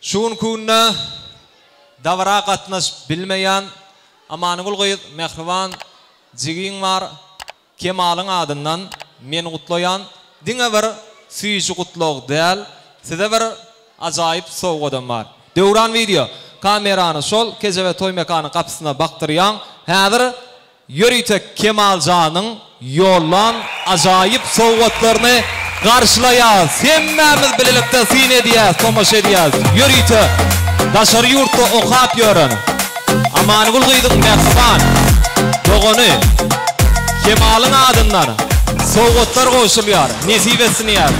Şu günki günde dabara gatnaşyp bilmeýän Amangül gyz mähriban jigiň bar Kemalyň adyndan men gutlaýan diňe bir süýji gutlag däl size bir ajaýyp sowgadam bar Döwran wideo kamerany şol kejebe toý mekanyň gapysyna bakdyrýaň häzir ýörite Kemal janyň ýollan ajaýyp sowgatlaryny garşylaýas hemmämiz bilelikde syn edýäs tomaşa edýäs ýörite daşary ýurtda okap ýören Amangül gyzyň mähriban dogany Kemalyň adyndan sowgatlar gowşulýar nesip etsin diýäs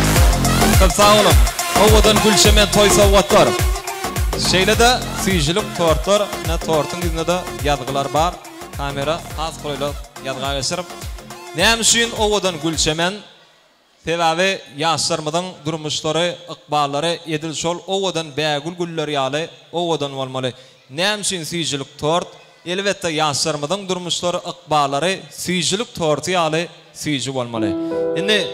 köp sag boluň owadan gülşemen toý sowgatlar şeýle-de süýjülik tortlar ine tortuň ýüzünde-de ýazgylar bar. Kamera has golaýla ýazga geçer. Näme üçin owadan Gülçemen? Sebäbi ýaşlarymyzyň durmuşlary, ykballary edil şol owadan bägül güller ýaly owadan bolmaly. Näme üçin süýjülik tort? Elbetde, ýaşlarymyzyň durmuşlary, ykballary süýjülik torty ýaly Süýji bolmaly. Indi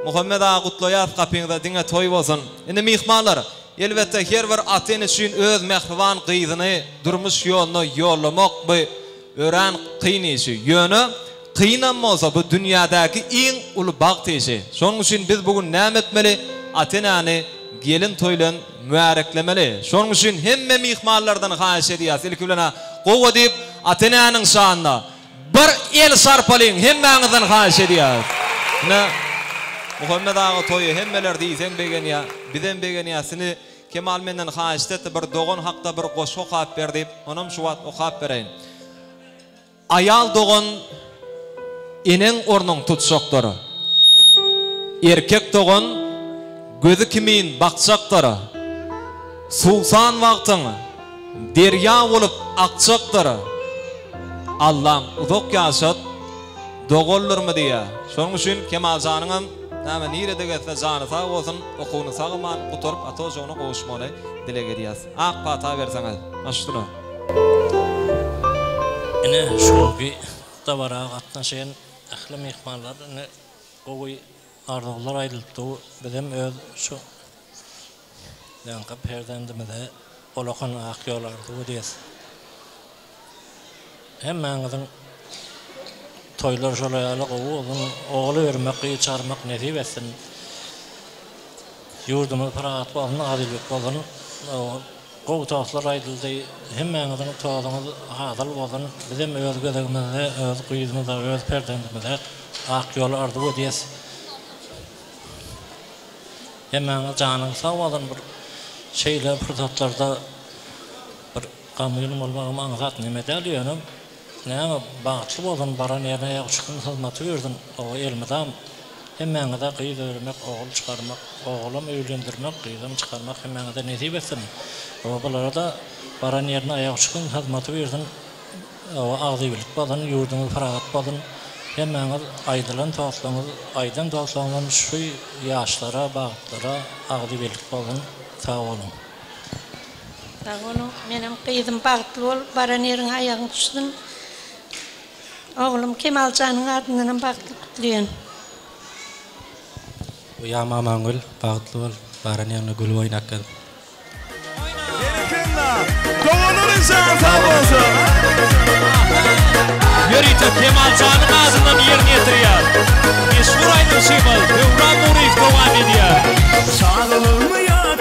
Muhammet aga gutlaýas gapyňyza diňe toý bolsun. Indi myhmanlar, elbetde her bir ata ene üçin öz mähriban gyzyny durmuş ýoluna ýollamak bu örän kyn işi. Ýöne kynam bolsa bu dünýädäki iň uly bagt işi. Şonuň üçin biz bu gün näme etmeli? Ata enäni gelin toý bilen mübäreklemeli. Şonuň üçin hemme myhmanlardan haýyş edýäs ilki bilen gowa diýip ata enäniň şanyna Bir el çarpalyň hemmäňizden haýyş edýäris. Ine Muhammet aga toýa hemmeler diýseň begenýä. Bizem begenýäs. Sini Kemal menden haýyşt etdi bir dogan hakda bir goşgy okap ber diýip. Onam şu wagt okap bereýin. Aýal dogan eneň ornuň tutjakdyr. Erkek dogan gözi kimin bakjakdyr. Suwsan wagtyň. Derýa bolup akjakdyr. Allam uzak ýaşat doganlarmy diýýä. Şonuň üçin Kemal janyňam näme nirede gezse jany sag bolsun, okuwyny sag aman gutaryp ata ojagyna gowuşmagyny dileg edýäs. Ak pata berseňiz. Maşduna. Ine şowki dabara gatnaşan ähli myhmanlar indi gowy Arzuwlar aýdylypdy bizem öz şu janky perzendimize ullakan ak ýol arzuw edýäs. Hemmäňiziň toýlary şolar ýaly gowy bolsun, ogul bermek, gyz çarmak nesip etsin. Ýurdumyz parahat bolsun, azylyk bolsun. Gowy tostlar aýdyldy. Hemmäňiziň tozuňyz hasyl bolsun. Bizem öz gezegimizde öz gyzymyza, öz perzendimize ak ýol arzuw edýäs. Hemmäňiz janyňyz sag bolsun. Bir şeýle pursatlarda bir gamgyn bolmagam aňsat neme däl. Ýöne Näme bagtly boldun baran ýerine ýa uçkun hyzmaty berdiň oba elmydam hemmäňize gyz öremek ogul çykarmak ogulam öýlendirmek gyzam çykarmak hemmäňize nesip etsin obalarada baran ýerine aýak uçkun hyzmaty berdiň oba agzybirlik bolsun ýurduňyz pyragat bolsun hemmäňiz aýdylan dostlaryňyz aýdan dostlaryňdan şu ýaşlara bagtlara agzybirlik bolsun sag boluň. Sag boluň. Menem gyzym bagtly bolup baran ýeriňe aýagyň düşsün. Oglum Kemaljanyň adyndanam bagtly gutlaýan. Oýam Amangül bagtly bol baran ýeriňe gülüp oýnap gel. Berekella! Doganlar jany sag bolsun! Ýörite Kemaljanyň adyndan ýerine ýetirýär. Meşhur aýdymçymyz Döwran Nuryýew dowam edýär. Çagalygymy ýat